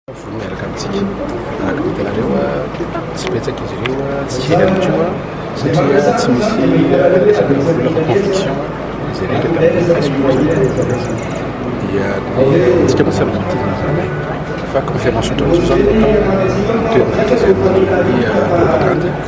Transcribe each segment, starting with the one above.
Mivory miaraka amintsika. Araka ny hitanareo, tsy betsaka izy ireo, tsy kely ihany koa satria tsy misy resaka vola fa conviction izay rehetra tamin'ny Facebook dia antsika moa samy nitizana izany fa conférence ohatran'izao izany no atao toerana rehetra izay manao ny propagande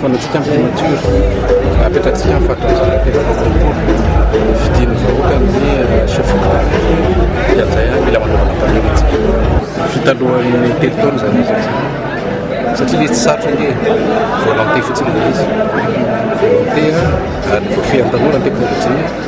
Fanaontsika ny primature, apetratsika ny fahatongavan'ny telopolo amby roapolo, ny fidian'ny vahoaka amin'ny chef local, dia amin'izay ary mila manaovana panely tsika. Vita alohan'ny telo taona izany izy io, satria ilay izy tsy sarotra ange e, volonté fotsiny ilay izy, volonté ary ny voafehin'ny tanora ny teknolojia.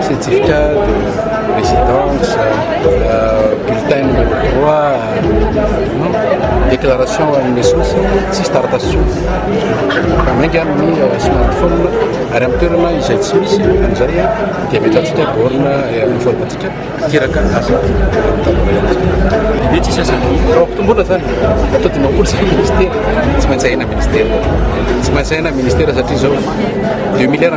Certificat de résidence, bulletin numéro 3, déclaration à une naissance, tsisy taratasy intsony. Fa mainka amin'ny smartphone ary amin'ny toerana izay tsy misy an'izay dia ametrahantsika borne amin'ny phone antsika iteraka azy dia tsisy asany raha mpitombola zany atao dimampolo zany ministera tsy maintsy ahena ministera tsy maintsy ahena ministera satria zao deux milliards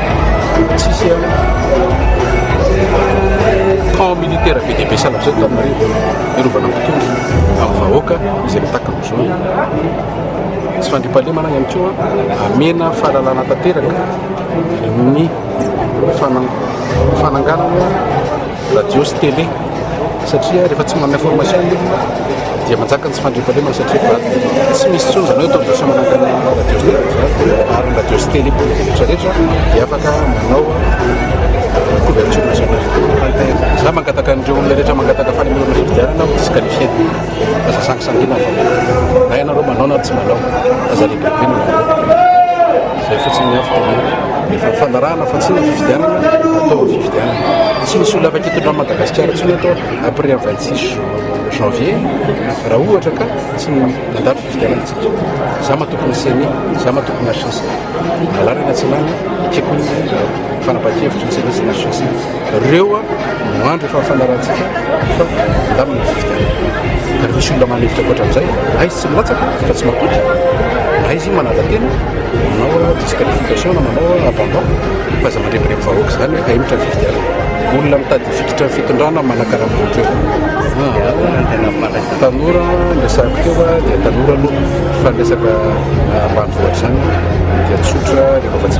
Tsisy eo. Camp militaire be dia be sanatria eto Antananarivo hiarovana ny tontolo amin'ny vahoaka izay mitaky ny zo. Tsy fandriampahalemana ihany koa amena fahalalana tanteraka ny fananganana radio sy télé satria rehefa tsy manana information ny olona dia manjaka ny tsy fandriampahalemana satria efa tsy misy intsony izany hoe atao diso manangana ny radio sy télé izany ary ny radio sy télé mpanao diso rehetra rehetra dia afaka manao couverture nationale za mangataka an'ireo olona rehetra mangataka fanomezana fifidianana aho disqualifier aza sangisangiana fa na ianareo manao na tsy manao aza regretter ny manao Izay fotsiny ny hafatra dia efa fanarahana fa tsy ny fifidianana atao ny fifidianana. Tsy misy olona afaka hitondra an'i Madagasikara intsony eto après ny 26 janvier raha ohatra ka tsy nandalo fifidianana isika. Izaho matoky ny ceni, izaho matoky ny HCC. Na lany na tsy lany, ekeko ny fanapahan-kevitry ny ceni sy ny HCC. Reo no andry efa fanarahantsika fa mandamina ny fifidianana. Ka refa misy olona manefitra ankoatra an'izay, na izy tsy milatsaka fa tsy matoky, na izy manadantena, manao disqualification na manao abandon, fa aza mandrebireby vahoaka izany hoe ahemotra ny fifidianana. Olona mitady hifikitra ny fitondrana manakarama an'ireo. Tanora ny resahako teo dia tanora aloha, fa ny resaka ambanivohitra izany dia tsotra, rehefa afa-tsy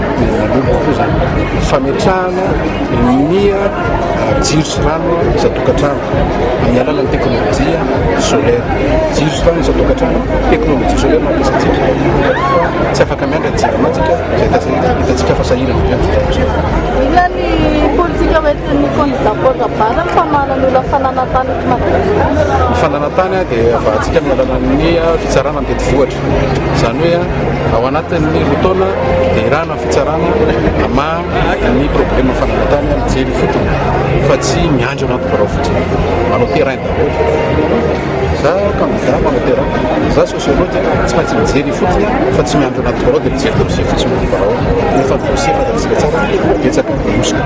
dia nanomboka koa izany fametrahana ny jiro sy rano isan-tokantrano amin'ny alalan'ny teknolojia solaire. Jiro sy rano isan-tokantrano, teknolojia solaire mampiasantsika. Tsy afaka miandry ny jiro amantsika, izay hitantsika fa sahirana be amin'izao Inona ny politika hoentin'ny kandidà Paul Rabary ny famoahana ny olona fananantany eto Madagasikara? Ny fananantany dia vahantsika amin'ny alalan'ny fitsarana mitety vohitra. Izany hoe ao anatin'ny roa taona dia irahana ny fitsarana hamaha ny problema fananantany mijery fotony fa tsy miandry anaty birao fotsiny. Manao terrain daholo. Za kandida manao terrain, za sociologue tsy maintsy mijery fotony fa tsy miandry anaty birao dia mijery dossier fotsiny ny birao. Rehefa dossier fantatsika tsara betsaka ny hosoka.